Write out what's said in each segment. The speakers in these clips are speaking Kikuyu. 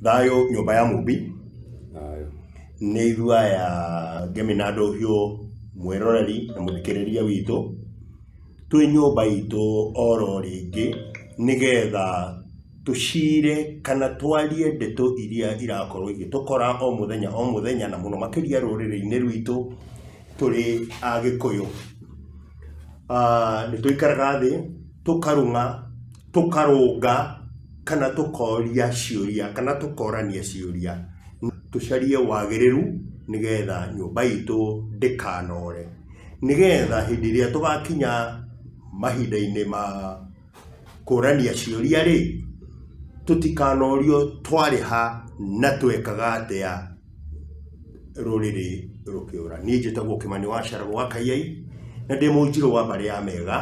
Thayũ nyũmba ya mũmbi, Thayũ. nĩ ithuĩ aya Ngemi na Ndũhiũ, mwĩroreri na mũthikĩrĩria witũ, twĩ nyũmba itũ oro rĩngĩ, nĩgetha tũcire kana twarie ndeto iria irakorwo igĩtũkora o mũthenya o mũthenya, na mũno makĩria rũrĩrĩ-inĩ rwitũ tũrĩ Agĩkũyũ. Ah, Nĩ tũikaraga thĩ, tũkarũng'a, tũkarũnga kana tũkoria ciũria kana tũkorania ciũria, tũcarie wagĩrĩru nĩgetha nyũmba itũ ndĩkanore. Nĩgetha hĩndĩ ĩrĩa tũgakinya mahinda-inĩ ma kũrania ciũria rĩ, tũtikanorio twarĩ ha na twekaga atĩa. rũrĩrĩ rũkĩũra. Niĩ njĩtagwo Kĩmani wa Charo gwa Kayai, na ndĩ Mũnjirũ wa mbarĩ ya Mega,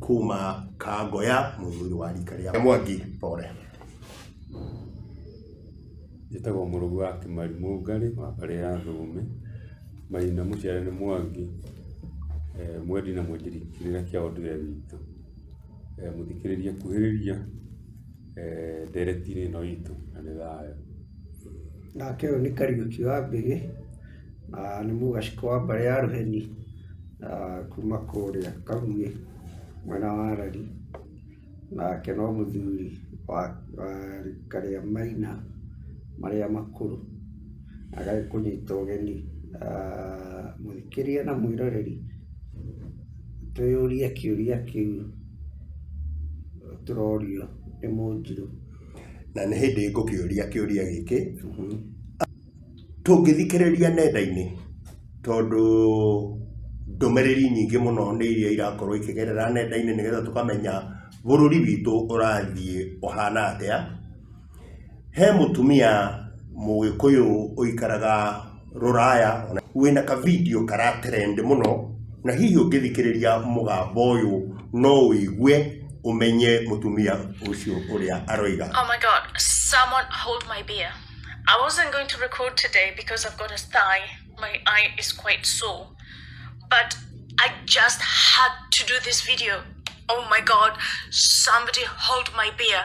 kuma Kangoya, mũthuri wa rika rĩa Mwangi. Pole. Njĩtagwo Mũrũgu wa Kĩmari Mũngarĩ wa mbarĩ ya Thũme, Maina mũciare nĩ Mwangi, eh, mwendi na mwĩtĩri kĩrĩra kĩa ũndũire witũ. Eh, mũthikĩrĩria kuhĩrĩria. eh, nderetiri ĩno itũ na nĩ thayũ nake ũyũ nĩ kariũki wa mbĩgĩ na nĩ mũgaciko wa mbarĩ ya rũheni na kuma kũrĩa kaguĩ mwena wa rari nake no mũthuri wa wa rika rĩa maina marĩa makũrũ agagĩkũnyita ũgeni ah, mũthikĩria na mwĩroreri Twĩyũrie kĩũria kĩu tũrorio nĩ Mũnjirũ. Na nĩ hĩndĩ ngũkĩũria kĩũria gĩkĩ, tũngĩthikĩrĩria nenda-inĩ, tondũ ndũmĩrĩri nyingĩ mũno nĩ iria irakorwo ikĩgerera nenda-inĩ nĩgetha tũkamenya bũrũri witũ ũrathiĩ ũhana atĩa. He mũtumia mũgĩkũyũ ũikaraga rũraya, wĩna ka video kara trend mũno, na hihi ũngĩthikĩrĩria mũgambo ũyũ no wĩigue ũmenye mũtumia ũcio ũrĩa aroiga. Oh my god, someone hold my beer. I wasn't going to record today because I've got a thigh. My eye is quite sore. But I just had to do this video. Oh my god, somebody hold my beer.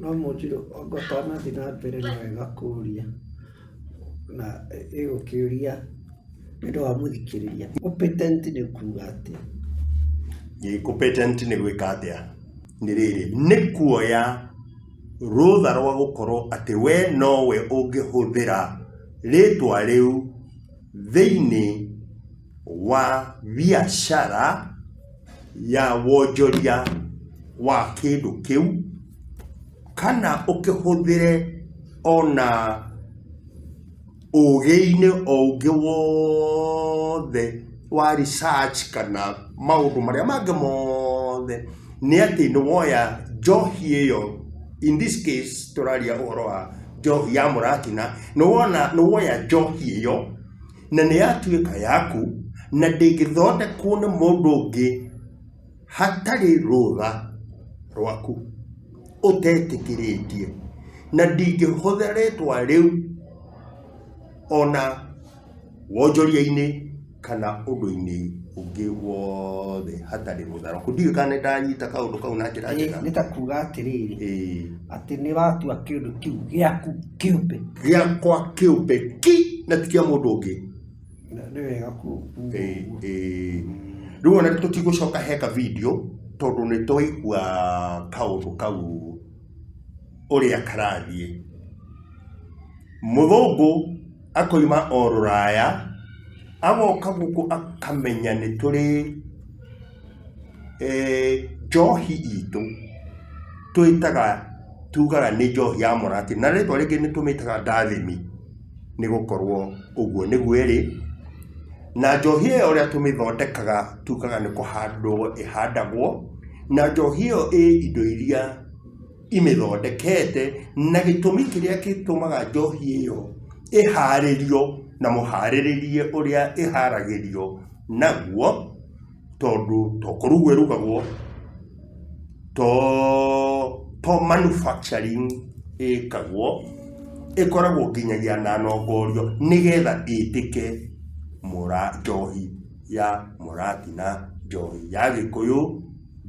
No mũnjĩre anga ũtanathiĩ na mbere nĩ wega kũria na ĩgũkĩũria nĩ ũndũ wa mũthikĩrĩria. Competent nĩ kuuga atĩa? Ĩ, competent nĩ gwĩka atĩa nĩ rĩrĩ nĩ kuoya rũtha rwa gũkorwo atĩ we nowe ũngĩhũthĩra rĩtwa rĩu thĩinĩ wa biacara ya wonjoria wa kĩndũ kĩu, kana ũkĩhũthĩre ona ũgĩ-inĩ o ũngĩ wothe wa research kana maũndũ marĩa mangĩ mothe, nĩ atĩ nĩ woya njohi ĩyo, in this case tũraria ũhoro wa njohi ya mũratina, nĩ woya njohi ĩyo, na nĩ yatuĩka yaku na ndĩngĩthondekwo nĩ mũndũ ũngĩ hatarĩ rũtha rwaku ũtetĩkĩrĩtie na ndingĩhũthĩra rĩtwa rĩu ona wonjoria-inĩ kana ũndũ-inĩ ũngĩ wothe hatarĩ rũtha rwaku ndiũĩ kana nĩ ndanyita kaũndũ kau na njĩra njega nĩ ta kuga atĩrĩrĩ ĩĩ atĩ nĩ watua kĩndũ kĩu gĩaku kĩũmbe gĩakwa kĩũmbe ki na ti kĩa mũndũ ũngĩ Na nĩ wega ku- kuuga Ĩĩ, ũguo. ĩĩ. rĩu ona tũtigũcoka heka video tondũ nĩ twaigua kaũndũ kau ũrĩa karathiĩ mũthũngũ akoima o rũraya agoka gũkũ akamenya nĩ tũrĩ eh, njohi itũ twĩtaga tugaga nĩ njohi ya mũratĩ na rĩtwa rĩngĩ nĩ tũmĩtaga ndathimi nĩ gũkorwo ũguo nĩguo ĩrĩ na njohi ĩyo ũrĩa tũmĩthondekaga tugaga nĩ kũhandwo ĩhandagwo na njohi ĩyo ĩ indo iria imĩthondekete na gĩtũmi kĩrĩa gĩtũmaga njohi ĩyo ĩharĩrio na mũharĩrĩrie ũrĩa ĩharagĩrio naguo tondũ to kũrugwo ĩrugagwo to to manufacturing ĩkagwo ĩkoragwo nginyagia na nongorio nĩgetha ĩtĩke mũra njohi ya mũratina njohi ya gĩkũyũ.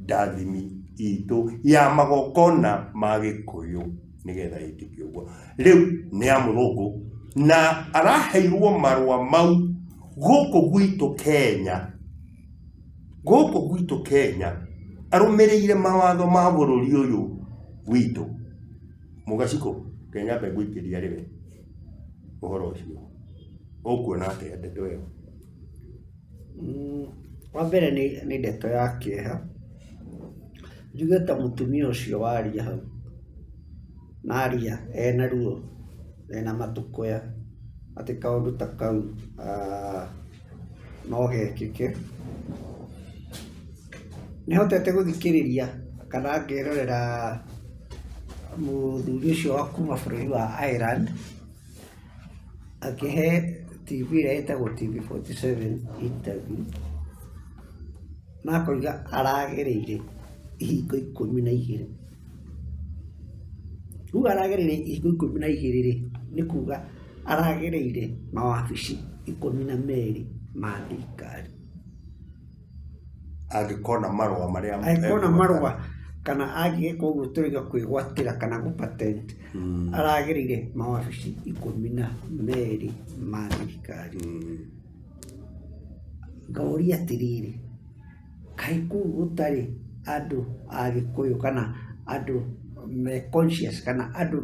ndathimi itũ ya magongona ma gĩkũyũ nĩgetha ĩtĩke ũguo rĩu nĩ ya mũthũngũ na araheirwo marũa mau gũkũ gwitũ kenya gũkũ gwitũ kenya arũmĩrĩire mawatho ma bũrũri ũyũ witũ mũgaciko kenya mbegũikĩria rĩwe ũhoro ũcio ũkuona atĩa ndeto ĩyo Wa mbere nĩ ndeto ya kĩeha, njuge ta mũtumia ũcio waria hau, na aria ena ruo, ena matũkũya, atĩ kaũndũ ta kau no gekĩke. Nĩ hotete gũthikĩrĩria kana ngerorera mũthuri ũcio wa kuma bũrũri wa Ireland, akĩhe TV ĩrĩa ĩtagwo TV47 interview na akoiga aragereire ihingo ikũmi na igĩrĩ rĩu aragereire ihingo ikũmi na igĩrĩ rĩ nĩ kuga aragereire mawabici ikũmi na merĩ ma thirikari Angĩkona marũa marĩa angĩkona marũa kana angĩgĩka ũguo tũrĩga kwĩgwatĩra kana gũ patent mm. aragĩrĩire mawabici ikũmi na merĩ ma thirikari mm. ngaũria atĩrĩrĩ kaĩ kũu gũtarĩ andũ a gĩkũyũ kana andũ me conscious kana andũ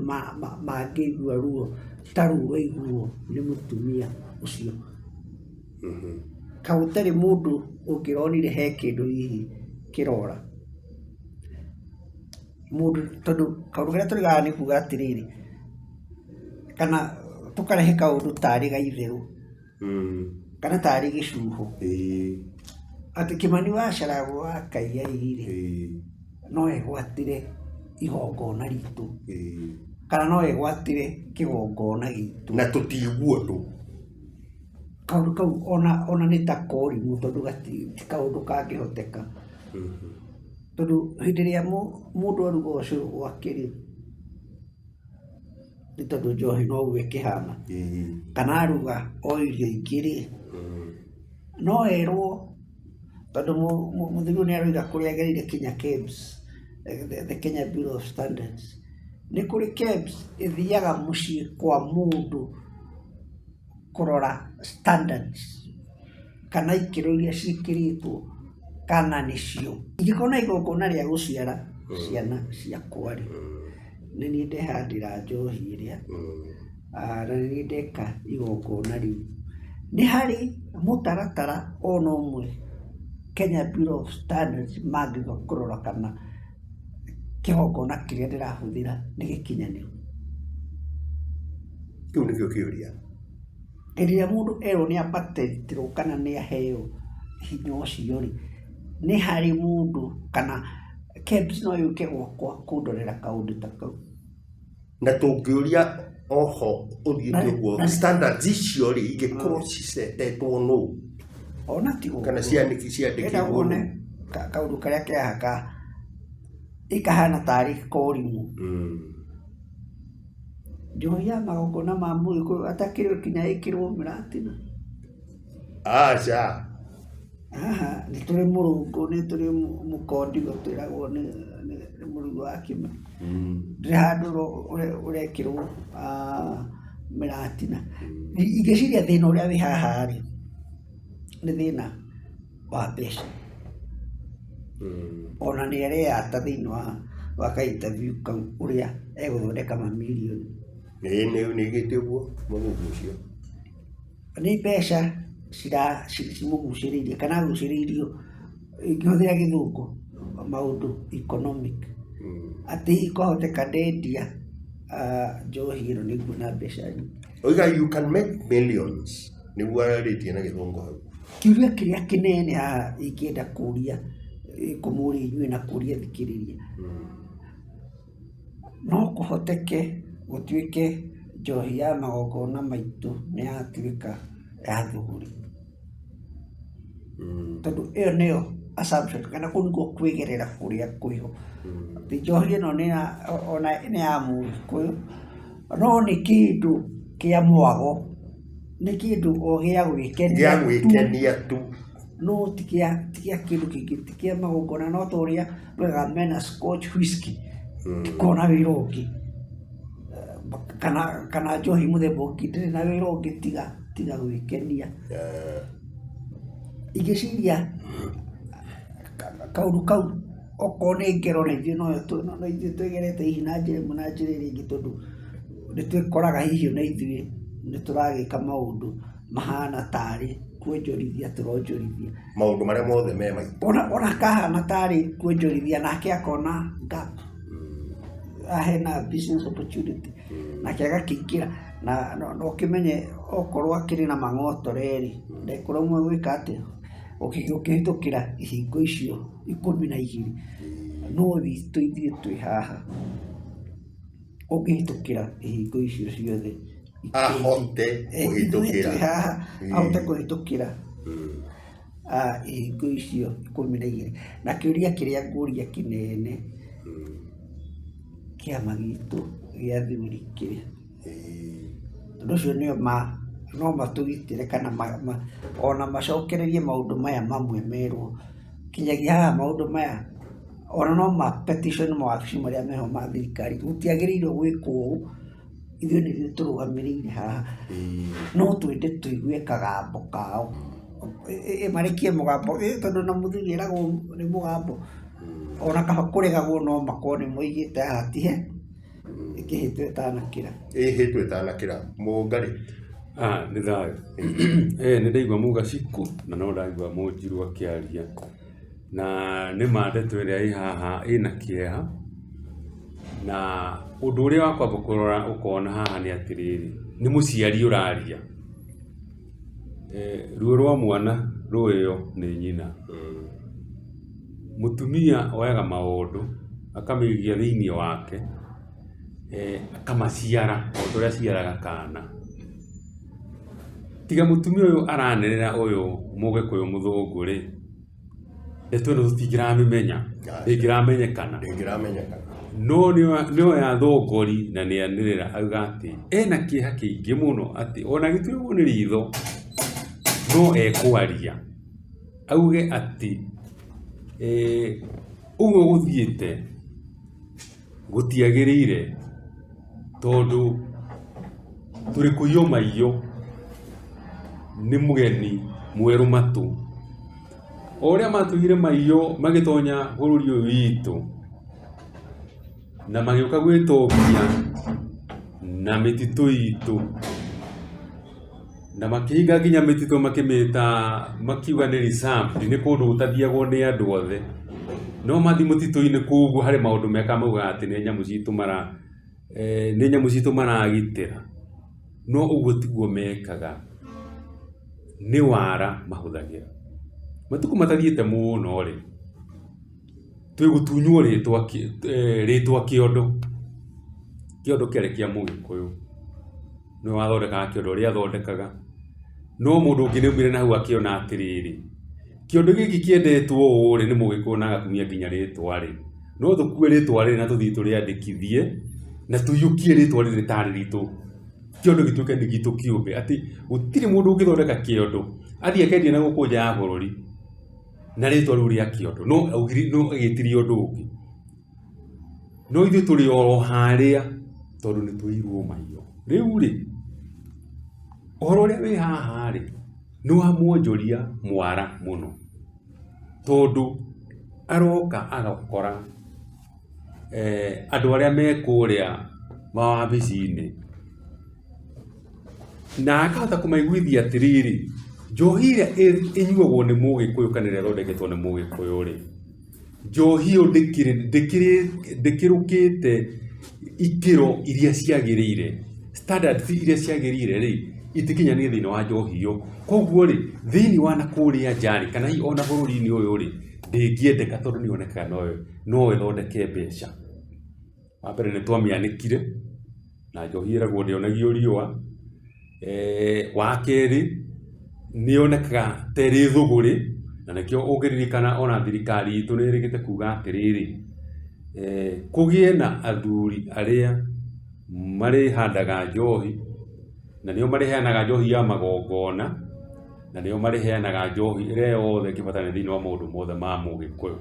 mangĩigua ruo ta rũu waiguo nĩ mũtumia ũcio Kaĩ gũtarĩ mũndũ ũngĩronire he kĩndũ hihi kĩrora? Mũndũ tondũ kaũndũ karĩa tũrĩ haha nĩ kuuga atĩrĩrĩ, kana tũkarehe kaũndũ tarĩ ga itherũ, kana tarĩ gĩcuho, atĩ Kĩmani wa Charagwe wa Kaigai rĩ, no egwatĩre igongona ritũ, kana no egwatĩre kĩgongona gitũ. Na tũtiiguo nũ. kaũndũ kau ona ona nĩ ta korimũ tondũ gati ti kaũndũ kangĩhoteka tondũ hĩndĩ ĩrĩa mũ mũndũ aruga ũcũrũ gwake rĩ nĩ tondũ njohi no ũguo ĩkĩhana kana aruga o irio ingĩ rĩ no erwo tondũ mũ- mũ- mũthiguru nĩ aroiga kũrĩa agereire Kenya KEBS eh, the, the Kenya Bureau of Standards nĩ kũrĩ KEBS ĩthiaga mũciĩ kwa mũndũ kũrora standards kana ikĩro iria ciĩkĩrĩtwo kana nĩcio. Ingĩkorwo na igongona rĩa gũciara ciana ciakwa-rĩ, nĩ niĩ ndehandĩra njohi ĩrĩa, na nĩ niĩ ndeka igongona rĩu. Nĩ harĩ mũtaratara o na ũmwe Kenya Bureau of Standards mangĩũka kũrora kana... kĩgongona kĩrĩa ndĩrahũthĩra nĩ gĩkinyanĩru? Kĩu nĩkĩo kĩũria. Hĩndĩ ĩrĩa mũndũ erwo nĩ abatithĩtio kana nĩ aheo hinya ũcio rĩ, nĩ harĩ mũndũ kana KEBS no yũke gwakwa kũndorera kaũndũ ta kau? na tũngĩũria oho ũthiĩte Na- ũguo na- standards icio rĩ ingĩkorwo cicetetwo nũ ona ti ũguo. kana ciandĩki Enda ciandĩkirwo wone nũ ka- kaũndũ karĩa kehaka ikahana tarĩ korimũ Mm. njohi ya magongona ma mũgĩkũyũ atakĩrĩ kinya ĩkĩrwo mĩratina Aca. Haha nĩ tũrĩ mũrũngũ, nĩ tũrĩ mũkondigo twĩragwo nĩ nĩ nĩ mũrugi wa kĩma. Ndĩrĩ handũ ũro- ũre- ũrekĩrwo ah, mĩratina. Nĩ- Ingĩciria thĩna ũrĩa wĩ haha rĩ, nĩ thĩna wa mbeca. Ona nĩ areyata thĩinĩ wa wa ka interview kau ũrĩa egũthondeka mamirioni. Ĩĩ nĩ nĩ gĩtĩ ũguo mũthuri ũcio. Nĩ mbeca cimũgucĩrĩirie kana agucĩrĩirio ingĩhũthĩra gĩthũngũ maũndũ economic atĩ kwahoteka ndendia njohi ĩno nĩ nguona mbeca nyingĩ. Oiga you can make millions nĩguo arĩtie na gĩthũngũ hau. Kĩũria kĩrĩa kĩnene haha ingĩenda kũria kũmũria inyuĩ na kũria thikĩrĩria No kũhoteke gũtuĩke njohi ya magongona maitũ nĩ yatuĩka ya thũgũrĩ. Tondũ ĩyo nĩyo assumption kana kũu nĩkuo kwĩgerera kũrĩa kũrĩ ho. Atĩ njohi ĩno nĩ ya ona nĩ ya Mũgĩkũyũ, no nĩ kĩndũ kĩa mwago, nĩ kĩndũ o gĩa gwĩkenia tu. Gĩa gwĩkenia tu. no ti kĩa ti kĩa kĩndũ kĩngĩ ti kĩa magongona no ta ũrĩa wega mena scotch whisky tikona wĩra ũngĩ kana kana njohi mũthemba ũngĩ ndĩrĩ na wĩra ũngĩ tiga tiga gwĩkenia Eh, igĩciria ka- kaũndũ kau okorwo nĩ ngero na ithuĩ noyo twĩ- no- no ithuĩ twĩgerete hihi na njĩra ĩmwe na njĩra ĩrĩa ĩngĩ tondũ nĩ twĩkoraga hihi na ithuĩ nĩ tũragĩka maũndũ mahana tarĩ kuonjorithia tũronjorithia maũndũ marĩa mothe me maitũ ona ona kahana tarĩ kuonjorithia nake akona gap Ah, hena business opportunity nake agakĩingĩra na no- no ũkĩmenye okorwo akĩrĩ na mang'otore rĩ ndekũrauma gwĩka atĩa Ũkĩ- ũkĩhĩtũkĩra ihingo icio ikũmi na igĩrĩ no witũ ithuĩ twĩ haha ũngĩhĩtũkĩra ihingo icio ciothe ahote Eh, kũhĩtũkĩra tũrĩ haha, Mm. ahote kũhĩtũkĩra Mm. ah, ihingo icio ikũmi na igĩrĩ na kĩũria kĩrĩa ngũria kĩnene Mm. kĩama gitũ gĩa thuri kĩrĩa Eh, tondũ ũcio nĩo ma no matũgitĩre kana ma, ma, ona macokererie maũndũ maya mamwe merwo kinyagia haha maũndũ maya Ona no ma petition mawabici marĩa meho ma thirikari, gũtiagĩrĩirwo gwĩkwo ũũ, ithuĩ nĩithuĩ tũrũgamĩrĩire haha, no twende tũigue kagambo kao, marekie mũgambo tondũ ona mũthuri eragwo nĩ mũgambo, ona kaba kũregagwo no makorwo nĩmoigĩte haha ti he, ĩkĩhĩtwo ĩtanakĩra. Ĩhĩtwo ĩtanakĩra. Mũnga rĩ? Nĩ thayũ. Nĩndaigua mũga cikũ, na no ndaigua mũnjirũ akĩaria. Na nĩ ma ndeto ĩrĩa ĩ haha ĩna kĩeha, na ũndũ ũrĩa wa kwamba kũrora ũkona haha nĩ atĩrĩrĩ, nĩ mũciari ũraria. Ruo rwa mwana rũĩyo nĩ nyina. Mũtumia oyaga maũndũ akamĩikia thĩiniĩ wake. akamaciara o ta ũrĩa aciaraga kana. Tiga mũtumia ũyũ aranĩrĩra ũyũ mũgĩkũyũ mũthũngũ rĩ, ndeto ĩno tũtingĩramĩmenya, ndĩngĩramenyekana. No no yathongori na nĩ anĩrĩra auga atĩ ena kĩeha kĩingĩ mũno atĩ ona agĩtuĩrwo nĩ ritho no ekwaria auge atĩ ũguo gũthiĩte... gũtiagĩrĩire tondũ tũrĩ kũiywo maiyũ nĩ mũgeni mwerũ matũ. O ũrĩa matũire maiyũ magĩtonya bũrũri ũyũ witũ na magĩũka gwĩtongia na mĩtitũ itũ. Na makĩhinga nginya mĩtitũ makĩmĩta makiuga nĩ reserved, nĩ kũndũ gũtathiagwo nĩ andũ othe. No mathiĩ mũtitũ-inĩ kũu ũguo harĩ maũndũ mekaga maugaga atĩ nĩ nyamũ citũ mara, nĩ nyamũ citũ maragitĩra. No ũguo tiguo mekaga, nĩ wara mahũthagĩra. Matukũ matathiĩte mũno rĩ, twĩ gũtunywo rĩtwa, rĩtwa kĩondo, kĩondo kĩarĩ kĩa mũgĩkũyũ. nĩwe wathondekaga kĩondo ũrĩa athondekaga, no mũndũ ũngĩ nĩ aumire na hau akĩona atĩrĩrĩ, kĩondo gĩkĩ kĩendetwo ũũ rĩ, nĩ mũgĩkũyũ na agakumia nginya rĩtwa rĩ, no tũkue rĩtwa rĩrĩ na tũthiĩ tũrĩandĩkithie na tũiyũkie rĩtwa rĩrĩ rĩtarĩ ritũ, kĩondo gĩtuĩke nĩ gitũ kĩũmbe, atĩ gũtirĩ mũndũ ũngĩthondeka kĩondo athiĩ akendia na gũkũ nja ya bũrũri na rĩtwa rĩu rĩa kĩondo, no agĩtirie ũndũ ũngĩ. No ithuĩ tũrĩ oro harĩa tondũ nĩ tũirwo maitho. Rĩu rĩ, ũhoro ũrĩa wĩ haha rĩ, nĩ wa mwonjoria mwara mũno, tondũ aroka agakora andũ arĩa me kũrĩa mawabici-inĩ, na akahota kũmaiguithia atĩrĩrĩ, njohi ĩrĩa ĩnyuagwo nĩ mũgĩkũyũ kana ĩrĩa ĩthondeketwo nĩ mũgĩkũyũ rĩ, Njohi ĩyo ndĩkĩrũkĩte ikĩro iria ciagĩrĩire, standards iria ciagĩrĩire rĩ, itikinyanĩire thĩinĩ wa njohi ĩyo. Koguo rĩ, thĩinĩ wa na kũrĩa nja rĩ, kana hihi ona bũrũri-inĩ ũyũ rĩ, ndĩngĩendeka tondũ nĩ yonekaga no ĩthondeke mbeca. Wa mbere nĩ twamĩanĩkire na njohi ĩragwo ndĩonagio riũa. Wa kerĩ, nĩ yonekaga ta ĩrĩ thũgũrĩ na nĩkĩo ũngĩririkana ona thirikari itũ nĩ ĩrĩkĩte kuuga atĩrĩrĩ, kũgĩe na athuri arĩa marĩhandaga njohi na nĩo marĩheanaga njohi ya magongona na nĩo marĩheanaga njohi ĩrĩa yothe ĩngĩbatarania thĩinĩ wa maũndũ mothe ma Mũgĩkũyũ.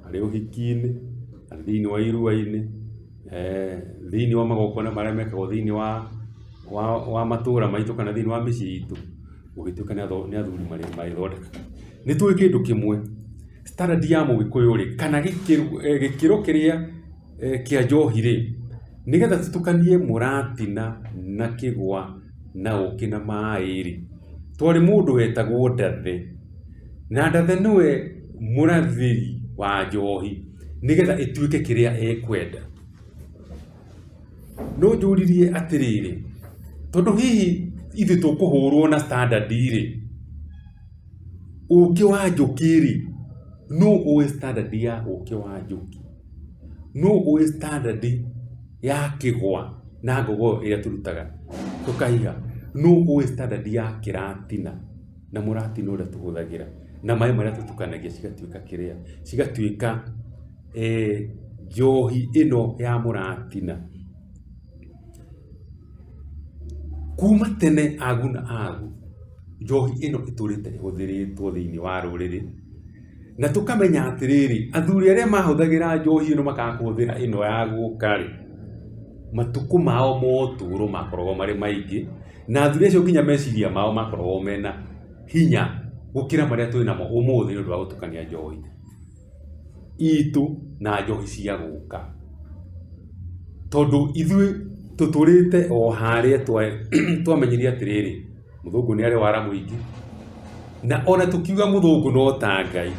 arĩ ũhiki-inĩ, arĩ thĩiniĩ wa irua-inĩ, thĩiniĩ wa magongona marĩa mekagwo thĩiniĩ wa matũra maitũ kana thĩiniĩ wa mĩciĩ itũ, gũgĩtuĩka nĩ athuri marĩthondekaga. Nĩ tũĩ kĩndũ kĩmwe, standard ya mũgĩkũyũ rĩ, kana gĩkĩro kĩrĩa kĩa njohi rĩ, nĩgetha citukanie mũratina na kĩgwa na ũkĩ na maĩ rĩ, twarĩ mũndũ wetagwo Ndathe. Na Ndathe nĩwe mũrathĩri wa njohi nĩgetha ĩtuĩke kĩrĩa ekwenda. No njũririe atĩrĩrĩ, tondũ hihi ithuĩ tũkũhũrwo na standard rĩ, ũkĩ wa njũkĩ rĩ, nũ ũĩ standard ya ũkĩ wa njũkĩ? Nũ ũĩ standard ya kĩgwa na ngogoyo ĩrĩa tũrutaga tũkaiga? Nũ ũĩ standard ya kĩratina na mũratina ũrĩa tũhũthagĩra na maĩ marĩa tũtukanagia cigatuĩka kĩrĩa, cigatuĩka njohi ĩno ya mũratina? Kuma tene agu na agu njohi ĩno ĩtũrĩte ĩhũthĩrĩtwo thĩinĩ wa rũrĩrĩ. Na tũkamenya atĩrĩrĩ, athuri arĩa mahũthagĩra njohi ĩno makaga kũhũthĩra ĩno ya gũka rĩ, matukũ mao ma ũtũũro makoragwo marĩ maingĩ, na athuri acio nginya meciria mao makoragwo mena hinya gũkĩra marĩa twĩ namo ũmũthĩ nĩ ũndũ wa gũtukania njohi itũ na njohi cia gũka. Tondũ ithuĩ tũtũrĩte o harĩa twamenyire atĩrĩrĩ. mũthũngũ nĩ arĩ wara mũingĩ na ona tũkiuga mũthũngũ no ta ngai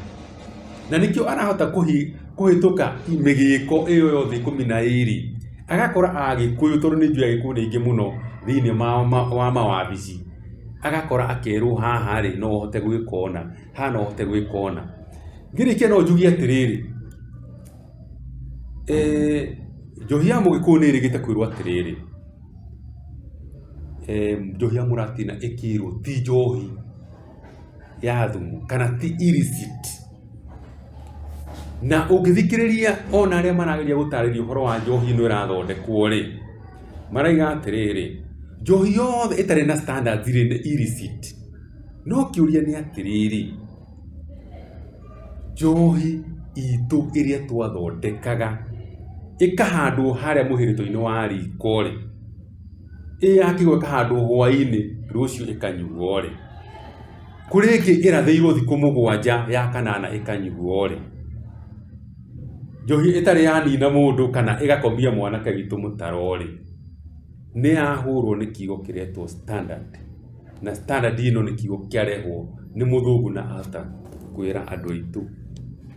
na nĩkĩo arahota kũhi- kũhĩtũka mĩgĩko ĩyo yothe ikũmi na ĩrĩ agakora agĩkũyũ tondũ nĩ njũĩ agĩkũyũ nĩ aingĩ mũno thĩinĩ ma- ma- wa mawabici agakora akerwo haha rĩ no ũhote gwĩka ũna haha no ũhote gwĩka ũna ngĩrĩkia no njuge atĩrĩrĩ Eh, njohi ya mũgĩkũyũ nĩ ĩrĩgĩte kwĩrwo atĩrĩrĩ eh, njohi ya mũratina ĩkĩrwo ti njohi ya thumu kana ti illicit na ũngĩthikĩrĩria ona arĩa marageria gũtarĩria ũhoro wa njohi ĩno ĩrathondekwo rĩ maraiga atĩrĩrĩ njohi yothe ĩtarĩ na standards rĩ nĩ illicit no kĩũria nĩ atĩrĩrĩ Njohi itũ ĩrĩa twathondekaga ĩkahandwo harĩa mũhĩrĩtwa-inĩ wa riko rĩ, ĩ yakĩgwa ĩkahandwo hwa-inĩ rũciũ ĩkanyuo rĩ, kũrĩ ĩngĩ ĩrathĩirwo thikũ mũgwanja ya kanana ĩkanyuo rĩ, njohi ĩtarĩ ya nina mũndũ kana ĩgakomia mwanake witũ mũtaro rĩ, nĩ ya hũrwo nĩ kiugo kĩretwo standard. na standard ĩno nĩ kiugo kĩarehwo nĩ mũthũngũ na ahota kwĩra andũ aitũ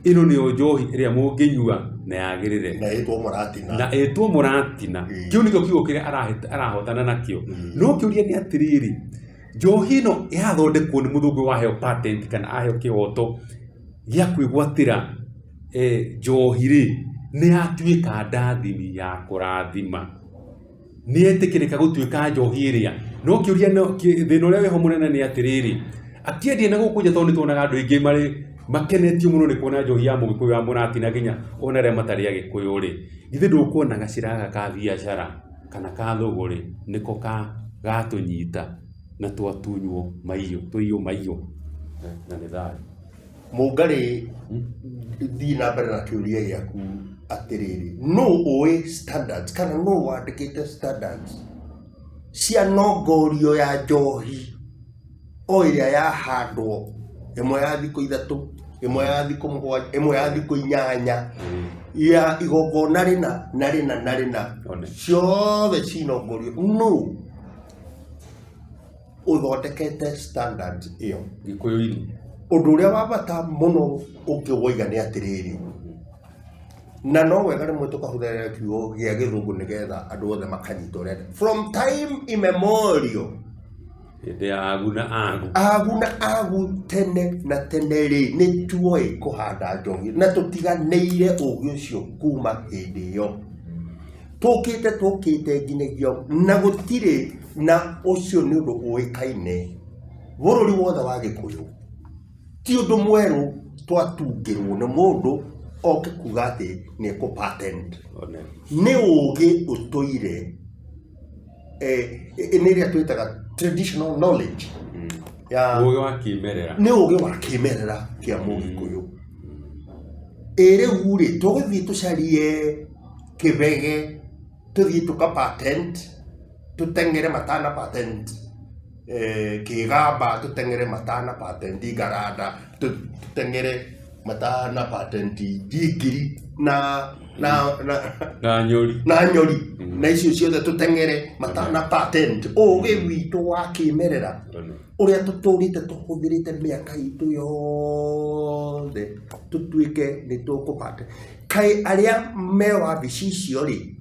ĩno nĩyo njohi ĩrĩa mũngĩnyua na yagĩrĩre na ĩtwo mũratina na ĩtwo mũratina Mm. kĩu nĩkĩo kiugo kĩrĩa arahe- arahotana nakĩo Mm. no kĩũria nĩ atĩrĩrĩ njohi ĩno yathondekwo nĩ mũthũngũ waheo patent kana aheo kĩhoto gĩa kwĩgwatĩra eh, njohi rĩ nĩ yatuĩka ndathini ya kũrathima nĩetĩkĩrĩka gũtuĩka njohi ĩrĩa no kĩũria thĩna ũrĩa weho mũnene nĩ atĩrĩrĩ akĩendia na gũkũ nja tondũ nĩ tuonaga andũ aingĩ marĩ makenetio mũno nĩ kuona njohi ya mũgĩkũyũ ya mũrati na nginya ona arĩa matarĩ agĩkũyũ rĩ githĩ ndũkuona gacĩra gaka ka biacara kana ka thũgũ rĩ nĩko gatũnyita na twatunywo maiũ tũiyũ maiũ na nĩ thayũ. Mũngarĩ thiĩ na mbere na kĩũria gĩaku atĩrĩrĩ, nũ ũĩ standards kana nũ wandĩkĩte standards cia nongorio ya njohi o ĩrĩa yahandwo ĩmwe ya thikũ ithatũ, ĩmwe ya thikũ mũgwanja, ĩmwe ya thikũ inyanya ya igongona rĩna na rĩna na rĩna One. ciothe cinongorio nũ? ũthondekete standard ĩyo gĩkũyũ-inĩ ũndũ ũrĩa wa bata mũno ũngĩ woiga nĩ atĩrĩrĩ na no wega rĩmwe tũkahũthĩra kiugo gĩa gĩthũngũ nĩgetha andũ othe makanyita ũrĩa from time immemorial hĩndĩ ya agu na agu agu na agu tene na tene rĩ nĩ tuoĩ kũhanda njohi na tũtiganĩire ũgĩ ũcio kuma hĩndĩ ĩyo tũkĩte tũkĩte nginyagia na gũtirĩ na ũcio nĩ ũndũ ũĩkaine bũrũri wothe wa gĩkũyũ ti ũndũ mwerũ twatungĩrwo nĩ mũndũ oke kuga atĩ nĩ ekũ patent One. nĩ ũgĩ ũtũire eh, nĩ ĩrĩa twĩtaga traditional knowledge Mm. ya Ũũgĩ wa kĩmerera. nĩ ũgĩ wa kĩmerera kĩa mũgĩkũyũ ĩrĩu rĩ tũgũthiĩ tũcarie kĩbege tũthiĩ tũka patent tũteng'ere matana patent eh, kĩgamba tũteng'ere matana patent ngaranda tũ- tũteng'ere matana patent njingiri na na na na nyũri na nyori na icio ciothe tũteng'ere matana patent ũgĩ witũ wa kĩmerera ũrĩa tũtũrĩte tũhũthĩrĩte mĩaka itũ yothe tũtuĩke nĩ tũkũbate kaĩ arĩa me wabici icio rĩ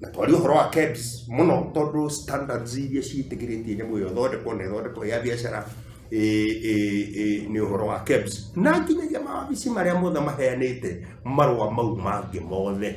na twari ũhoro wa KEBS mũno tondũ standards iria ciĩtĩkĩrĩtie nyamũ ĩyo thondekwo na ĩthondekwo ya biacara ĩ- ĩ- ĩ- nĩ ũhoro wa KEBS na nginyagia mawabici marĩa mothe maheanĩte marũa mau mangĩ mothe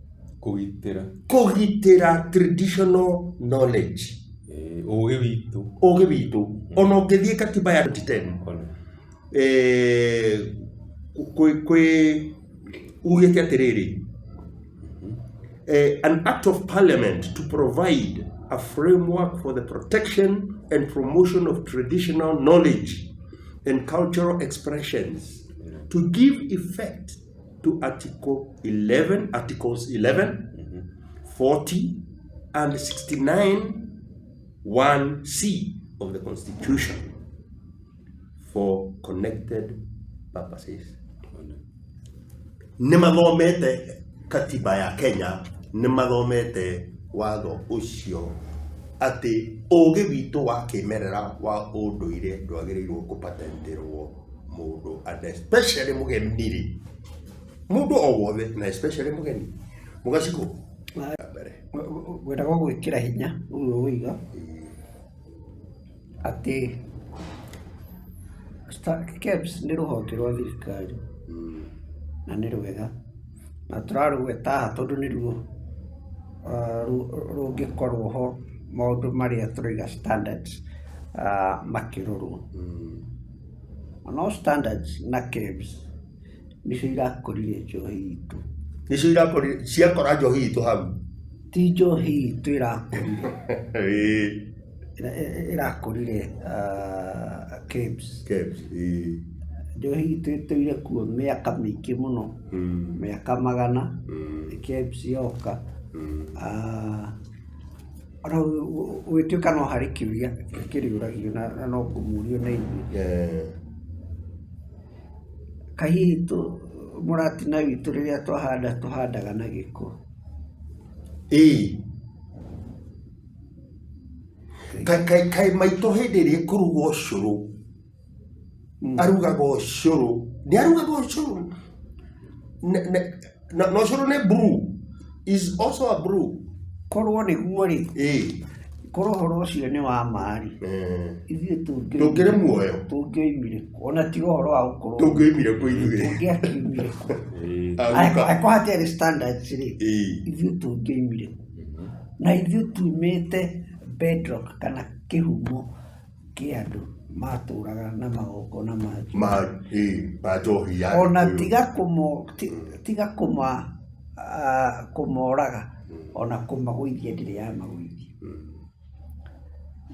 Kũgitĩra. Kũgitĩra traditional knowledge. Eh, Ũgĩ witũ. Ũgĩ witũ. Ona ũngĩthiĩ katiba ya 2010 Ona. eh, kwĩ kwĩ ugĩte atĩrĩrĩ eh, an act of parliament to provide a framework for the protection and promotion of traditional knowledge and cultural expressions to give effect to Article 11, Articles 11, mm-hmm. 40, and 69, 1C of the Constitution for connected purposes. Nĩ mathomete katiba ya Kenya, nĩ mathomete watho ũcio atĩ ũũgĩ witũ wa kĩmerera wa ũndũire ndwagĩrĩirwo kũpatenterwo. mũndũ and especially mũgeni rĩ mũndũ o wothe na especially mũgeni mũgacikũ mbere gwetagwo gwĩkĩra hinya ũguo ũiga atĩ Star- KEBS nĩ rũhonge rwa thirikari na nĩ rwega na tũrarũgweta haha tondũ nĩruo rũngĩkorwo ho maũndũ marĩa tũraiga standards makĩrorwo. Na no standards na KEBS nĩcio irakũririe njohi itũ. Nĩcio irakũririe, ciakora njohi itũ hau? Ti njohi itũ ĩrakũririe. Ĩĩ. ĩrĩa ĩ- ĩrakũrire ah, Kibs. Kebs, ĩĩ. njohi itũ ĩtũire kuo mĩaka mĩingĩ mũno Mm, mĩaka magana mm, Kibs yoka mm. Ah, ona gũ- gũ- gũgĩtuĩka no harĩ kĩũria kĩrĩũragio na na no ngũmũrio na inyuĩ Eh, kahihi tũ mũratina witũ rĩrĩa twahanda tũhandaga na gĩko ĩĩ. kaĩ maitũ hĩndĩ ĩrĩa ĩkũruga ũcũrũ mm. arugaga ũcũrũ nĩ arugaga ũcũrũ na ũcũrũ nĩ brew is also a brew korwo nĩguo rĩ korwo horo ũcio nĩ wa maarĩ ithuĩ tũngĩrĩ muoyo tũngĩoimire ona tiga ũhoro wa gũkorwo tũngĩoimire kũ ithuĩ tũngĩakiumire kũ akorwo hatarĩ standards rĩ ithuĩ tũngĩoimire kũ Na ithuĩ tuumĩte bedrock kana kĩhumo kĩa andũ matũraga na magongona ma ma ĩ ma njohi ya ona Gĩkũyũ. tiga kũmo ti- tiga kũma ah, kũmoraga ona kũmagũithia ndĩrĩ ya magũithia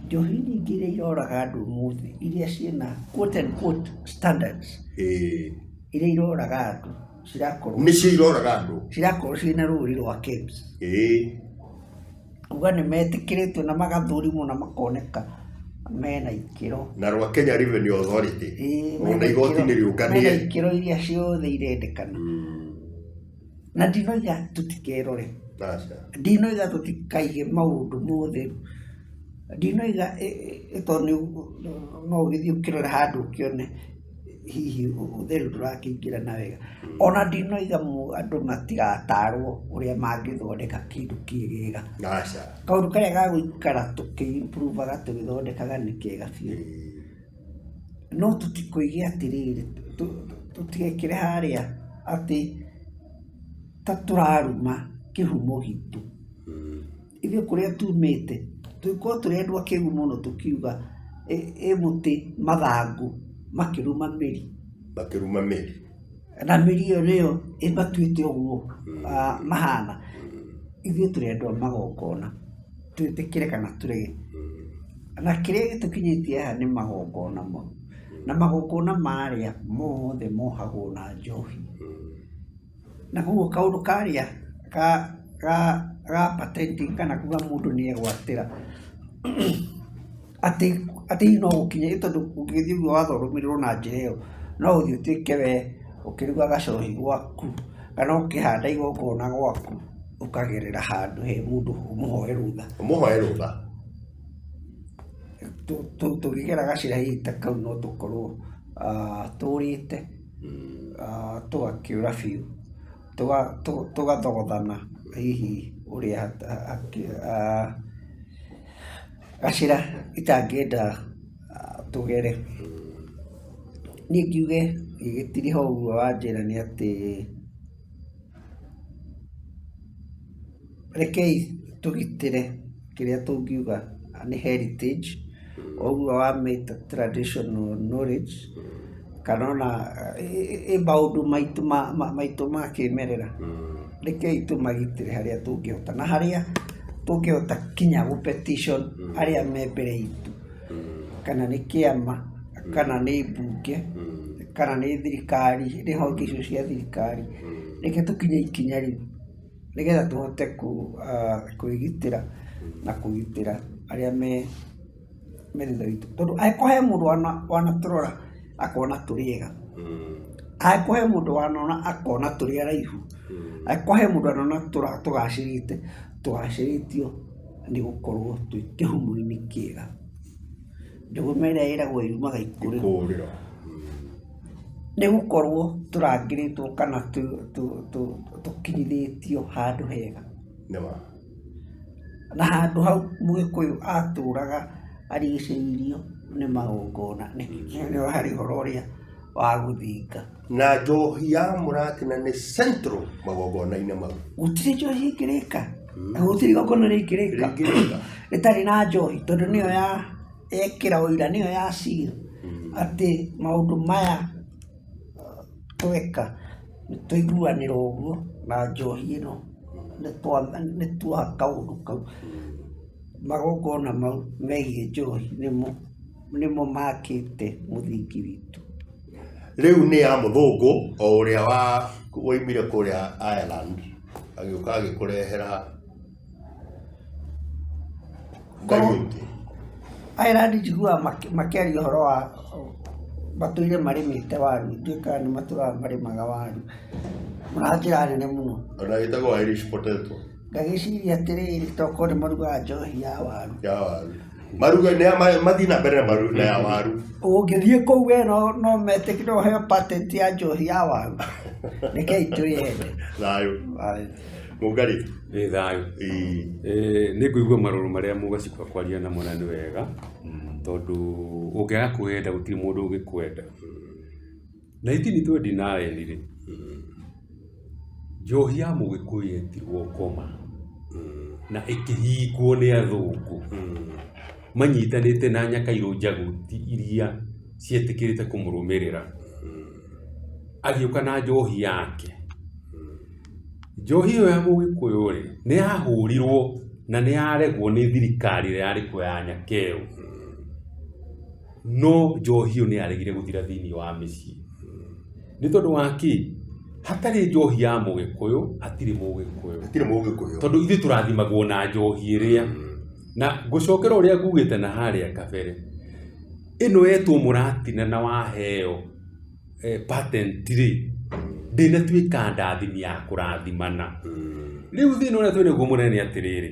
njohi nyingĩ iria iroraga andũ ũmũthĩ iria ciĩna quote and quote standards ĩ iria iroraga andũ cirakorwo mĩciĩ iroraga andũ cirakorwo ciĩ na rũri rwa KEBS ĩĩ kuga nĩ metĩkĩrĩtio na magathũrimwo na makoneka mena ikĩro na rwa Kenya Revenue Authority Ĩĩ, ona mena igoti ikĩro- nĩ mena rĩũnganie ikĩro iria ciothe irendekana Mm, na ndinoiga tũtikerore aca. ndinoiga tũtikaige maũndũ mothe ndinoiga ĩ- ĩ- ĩ- tondũ nĩ- no ũgĩthiĩ ũkĩrore handũ ũkĩone hihi ũhũthĩri ndũrakĩingĩra na wega. Ona ndinoiga andũ matigatarwo ũrĩa mangĩthondeka kĩndũ kĩegega. Aca. Kaũndũ karĩa ga gũikara tũkĩ improve aga tũgĩthondekaga nĩ kega biũ. No tũtikũige atĩrĩrĩ, tũtigekĩre harĩa atĩ ta tũraruma kĩhumo gitũ. ithuĩ kũrĩa tumĩte tũgĩkorwo tũrĩ andũ akĩgu mũno tũkiuga ĩ ĩ mũtĩ mathangũ makĩrũma mĩri makĩruma mĩri na mĩri ĩyo nĩyo ĩmatuĩte ũguo ah, mahana ithuĩ tũrĩ andũ a magongona twĩtĩkĩre kana tũrege na kĩrĩa gĩtũkinyĩtie haha nĩ magongona mau na magongona marĩa mothe mohagwo na njohi Na koguo kaũndũ karĩa ga ga ga patenting kana kuga mũndũ nĩ egwatĩra, atĩ atĩ hihi no gũkinya nĩ tondũ ũngĩgĩthiĩ ũguo watho ũrũmĩrĩrwo na njĩra ĩyo, no ũthiĩ ũtuĩke we ũkĩruga gacohi gwaku, kana ũkĩhanda igongona gwaku, ũkagerera handũ he mũndũ ũmũhoe rũtha. Ũmũhoe rũtha. Tũ tũ tũngĩgera gacĩra hihi ta kau no tũkorwo tũũrĩte. tũgakĩũra biũ, tũgathogothana hihi ũrĩa gacĩra itangĩenda tũgere. Niĩ ngiuge gĩtirĩ ho ũguo wanjĩra nĩ atĩ Rekei tũgitĩre kĩrĩa tũngiuga nĩ heritage, ũguo wamĩta traditional knowledge, kana ona ĩ maũndũ maitũ ma maitũ ma kĩmerera, rekei tũmagitĩre harĩa tũngĩhota, na harĩa tũngĩhota kinya gũ petition arĩa me mbere itũ. kana nĩ kĩama, kana nĩ mbunge, kana nĩ thirikari, nĩ honge icio cia thirikari, reke tũkinye ikinya rĩu nĩgetha tũhote kwĩgitĩra na kũgitĩra arĩa me thutha witũ. Tondũ angĩkorwo he mũndũ wanatũrora akona tũrĩ ega, angĩkorwo he mũndũ wanona akona tũrĩ araihu, angĩkorwo he mũndũ wanona tũgacĩrĩte, tũgacĩrĩtio. nĩ gũkorwo twĩ kĩhumo-inĩ kĩega njũgũma ĩrĩa ĩragwo yumaga ikũrĩro kũrĩro nĩ gũkorwo tũrangĩrĩtwo kana tũ- tũ- tũ- tũkinyithĩtio handũ hega nĩma na handũ hau mũgĩkũyũ atũraga arigicĩirio nĩ magongona nĩ harĩ ũhoro ũrĩa wa gũthinga Na njohi ya mũratina nĩ central magongona-inĩ mau. Gũtirĩ njohi ĩngĩrĩka. Na gũtirĩ igongona rĩngĩrĩka. Rĩngĩrĩka. Rĩtarĩ na njohi tondũ nĩyo ya yekĩra ũira nĩyo ya seal atĩ maũndũ maya tweka nĩ twaiguanĩra ũguo na njohi ĩno nĩ twa nĩ twa kaũndũ kau. Magongona mau megiĩ njohi nĩmo nĩmo makĩte mũthingi witũ. rĩu nĩ ya mũthũngũ o ũrĩa wa woimire kũrĩa Ireland agĩũka agĩkũrehera ngai Korwo- ingĩ Ireland njiguaga makĩ- makĩaria ũhoro wa matũire marĩmĩte waru ndiũĩ kana nĩ matũraga marĩmaga waru na njĩra nene mũno ona ĩtagwo Irish potato ngagĩciria atĩrĩrĩ tokorwo nĩ marugaga njohi ya waru ya waru maruga nĩ ya- ma- mathiĩ na mbere na maru- na ya waru ũngĩthiĩ kũu we no no metĩkĩ no heo patent ya njohi ya waru rekei twĩyende thayũ mũngarĩ Ĩ thayũ. Ĩĩ. Ĩ, nĩ ngũigua marũrũ marĩa mũgacikwa kwaria namo na nĩ wega tondũ ũngĩaga kwenda gũtirĩ mũndũ ũngĩkwenda Na itini twendi nayeni rĩ, njohi ya mũgĩkũyũ yetirwo ngoma na ĩkĩhingwo nĩ athũngũ manyitanĩte na nyakairũ njaguti iria cietĩkĩrĩte kũmũrũmĩrĩra. Agĩũka na njohi yake. Njohi ĩyo ya mũgĩkũyũ rĩ, nĩ yahũrirwo na nĩ yaregwo nĩ thirikari ĩrĩa yarĩ kuo ya nyakeũ. No njohi ĩyo nĩyaregire gũthira thĩinĩ wa mĩciĩ. Nĩ tondũ wa kĩ? Hatarĩ njohi ya Mũgĩkũyũ, hatirĩ Mũgĩkũyũ. Hatirĩ Mũgĩkũyũ. Tondũ ithuĩ tũrathimagwo na njohi ĩrĩa. Na ngũcokera ũrĩa ngugĩte na harĩa kabere, ĩno yetwo mũratina na waheo patent rĩ, ndĩnatuĩka ndathimi ya kũrathimana. Rĩu thĩna ũrĩa twĩnaguo mũnene nĩ atĩrĩrĩ,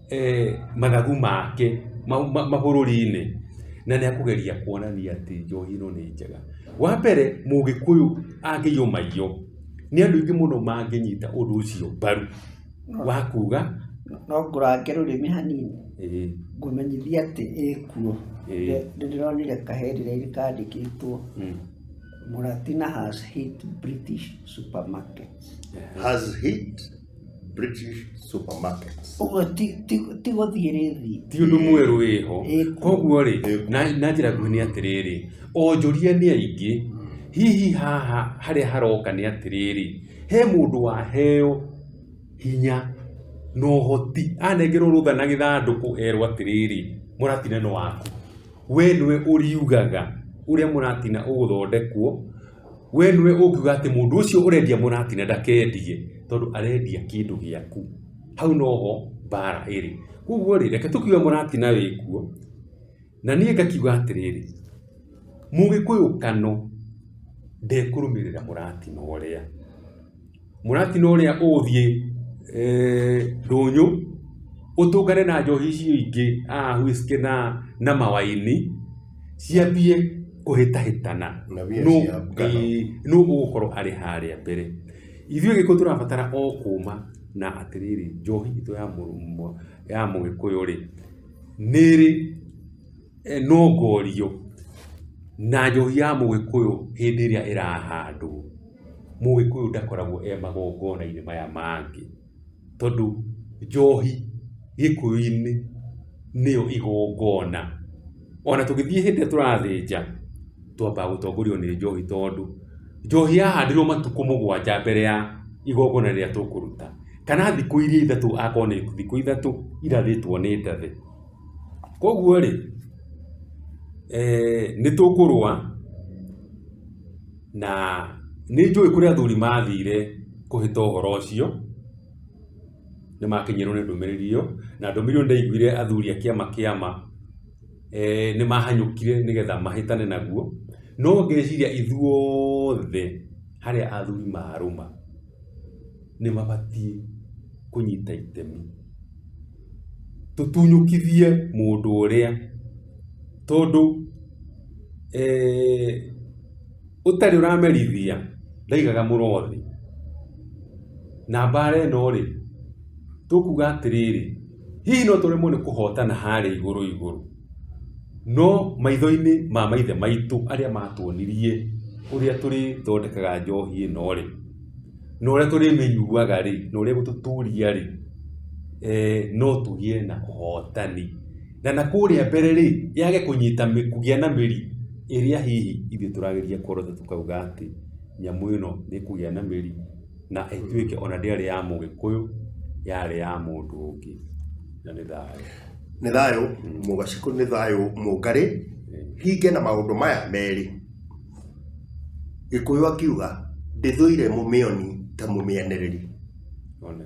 mathagu make mabũrũri-inĩ na nĩ akũgeria kuonania atĩ njohi ĩno nĩ njega. Wa mbere mũgĩkũyũ angĩiywo maiyũ nĩ andũ aingĩ mũno mangĩnyita ũndũ ũcio mbaru wa kuga no ngũrange rũrĩmĩ hanini ngũmenyithie atĩ ĩkuo. Nĩ ndĩronire kahendireini kandĩkĩtwo Mũratina has hit British supermarkets. Has hit? British supermarkets. ũguo ti ti- ti gũthiĩ rĩthi ti ũndũ mwerũ wĩho Ĩĩ. koguo rĩ Ĩĩ. na na njĩra nguhĩ nĩ atĩrĩrĩ onjoria nĩ aingĩ hihi haha harĩa haroka nĩ atĩrĩrĩ he mũndũ waheo hinya na ũhoti anengerwo rũtha na gĩthandũkũ erwo atĩrĩrĩ mũratina nĩ waku we nĩwe ũriugaga ũrĩa mũratina ũgũthondekwo We nĩwe ũngiuga atĩ mũndũ ũcio ũrendia mũrati na ndakendie tondũ arendia kĩndũ gĩaku. Hau noho mbara ĩrĩ. Koguo rĩ, reke tũkiuge mũrati na wĩ kuo, na niĩ ngakiuga atĩrĩrĩ, Mũgĩkũyũ Kano ndekũrũmĩrĩra mũratina ũrĩa. Mũratino ũrĩa ũgũthiĩ ndũnyũ ũtũngane na njohi icio ingĩ aa whiskey na mawaini ciambie kũhĩtahĩtana nũ ũgũkorwo arĩ harĩa mbere. Ithuĩ gĩkĩ tũrabatara o kũma na atĩrĩrĩ njohi itũ ya mũgĩkũyũ rĩ nĩ ĩrĩ ĩnongorio na njohi ya mũgĩkũyũ hĩndĩ ĩrĩa ĩrahandwo, mũgĩkũyũ ndakoragwo e magongona-inĩ maya mangĩ, tondũ njohi gĩkũyũ-inĩ nĩyo igongona. Ona tũgĩthiĩ hĩndĩ ĩrĩa tũrathĩnja, twambaga gũtongorio nĩ njohi, tondũ njohi yahandĩrwo matukũ mũgwanja mbere ya igongona rĩrĩa tũkũruta, kana thikũ iria ithatũ akorwo nĩ thikũ ithatũ irathĩtwo nĩ ndathĩ. Kwoguo rĩ, nĩ tũkũrũa na nĩ njũĩ kũrĩa athuri mathire kũhĩta ũhoro ũcio, nĩ makinyĩirwo nĩ ndũmĩrĩri ĩyo, na ndũmĩrĩri ĩyo ndaiguire athuri a kĩama kĩa ma nĩ mahanyũkire nĩgetha mahĩtane naguo. No ngeciria ithuothe harĩa athuri marũma... nĩ mabatiĩ kũnyita itemi. Tũtunyũkithie mũndũ ũrĩa, tondũ ũtarĩ ũramerithia ndaigaga mũro thĩ. Na mbara ĩno rĩ, tũkuga atĩrĩrĩ, hihi no tũremwo nĩ kũhotana harĩa igũrũ igũrũ? No maitho-inĩ ma maithe maitũ arĩa matuonirie ũrĩa tũrĩthondekaga njohi ĩno rĩ, na ũrĩa tũrĩmĩnyuaga rĩ, na ũrĩa ĩgũtũtũria rĩ, no tũgĩe na ũhotani. Na na kũrĩa mbere rĩ, yage kũnyita kũgĩa na mĩri ĩrĩa hihi ithuĩ tũrageria kũrota tũkauga atĩ nyamũ ĩno nĩ ĩkũgĩa na mĩri. na ĩtuĩke ona ndĩarĩ ya mũgĩkũyũ yarĩ ya mũndũ ũngĩ na nĩ thayũ nĩ thayũ mũgacikũ nĩ thayũ mũngarĩ hinge na maũndũ maya merĩ gĩkũyũ akiuga ndĩthũire mũmĩoni ta mũmĩanĩrĩri One.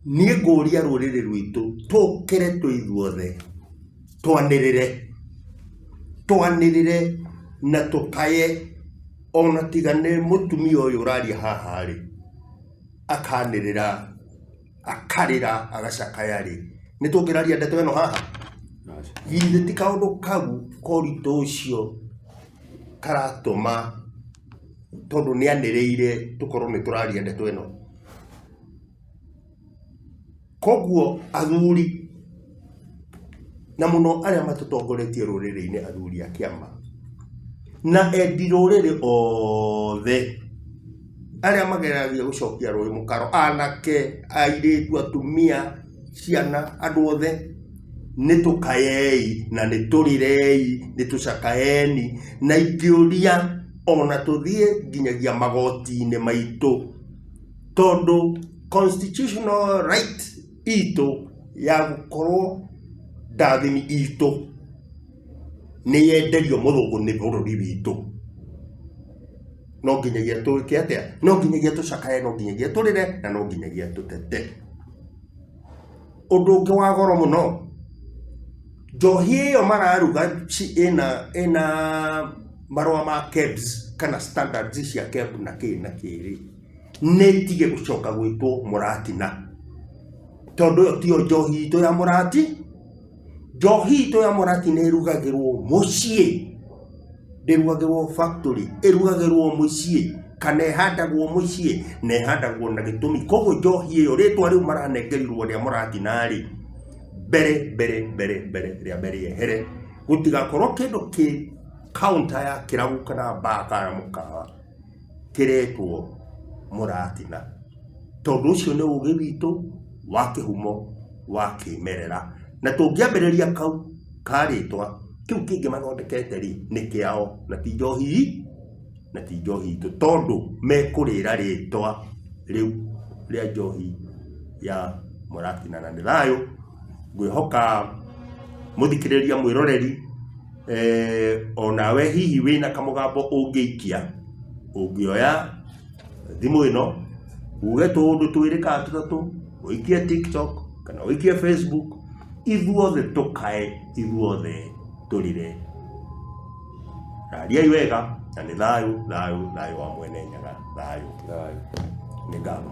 niĩ ngũria rũrĩrĩ rwitũ tũkĩre twĩ ithuothe twanĩrĩre twanĩrĩre na tũkaye ona tiga nĩ mũtumia ũyũ ũraria haha rĩ akanĩrĩra akarĩra agacakaya rĩ nĩ tũngĩraria ndeto ĩno haha githĩ ti kaũndũ kau koritũ ũcio karatũma tondũ nĩ anĩrĩire tũkorwo nĩ tũraria ndeto ĩno koguo athuri na mũno arĩa matũtongoretie rũrĩrĩ-inĩ athuri a kĩama na endi rũrĩrĩ othe arĩa mageragia gũcokia rũrĩ mũkaro anake airĩtu atumia ciana andũ othe nĩ tũkayei na nĩ tũrirei nĩ tũcakaeni na ingĩũria ona tũthiĩ nginyagia magoti-inĩ maitũ Tondũ constitutional right itũ ya gũkorwo ndathani itũ nĩ yenderio mũthũngũ nĩ bũrũri witũ, no nginyagia twĩke atĩa? No nginyagia tũcakaye, no nginyagia tũrĩre, na no nginyagia tũtete. Ũndũ ũngĩ wa goro mũno, njohi ĩyo mararuga ĩna ĩna marũa ma KEBS kana standards cia KEBS na kĩĩ na kĩĩ rĩ. nĩ ĩtige gũcoka gwĩtwo mũratina tondũ ĩyo tiyo njohi itũ ya mũrati njohi itũ ya mũrati nĩ ĩrugagĩrwo mũciĩ ndĩrugagĩrwo factory ĩrugagĩrwo mũciĩ kana ĩhandagwo mũciĩ na ĩhandagwo na gĩtũmi koguo njohi ĩyo rĩtwa rĩu maranengerirwo rĩa mũratina rĩ mbere mbere mbere mbere rĩa mbere ehere gũtigakorwo kĩndũ kĩ counter ya kĩrabu kana baa kana mũkawa kĩretwo mũratina. Tondũ ũcio nĩ ũgĩ witũ wa kĩhumo wa kĩmerera. Na tũngĩambĩrĩria kau karĩtwa, kĩu kĩngĩ mathondekete rĩ, nĩ kĩao na ti njohi, na ti njohi itũ. Tondũ mekũrĩra rĩtwa rĩu rĩa njohi ya mũratina. Na nĩ thayũ, ngwĩhoka mũthikĩrĩria, mwĩroreri. onawe hihi wĩna kamũgambo ũngĩikia ũngĩoya thimũ ĩno uge tũũndũ twĩrĩ kana tũtatũ ũikie tiktok kana ũikie facebook ithuothe tũkae ithuothe tũrire rariai wega na nĩ thayũ thayũ thayũ wa mwene nyaga thayũ Thayũ. nĩ ngama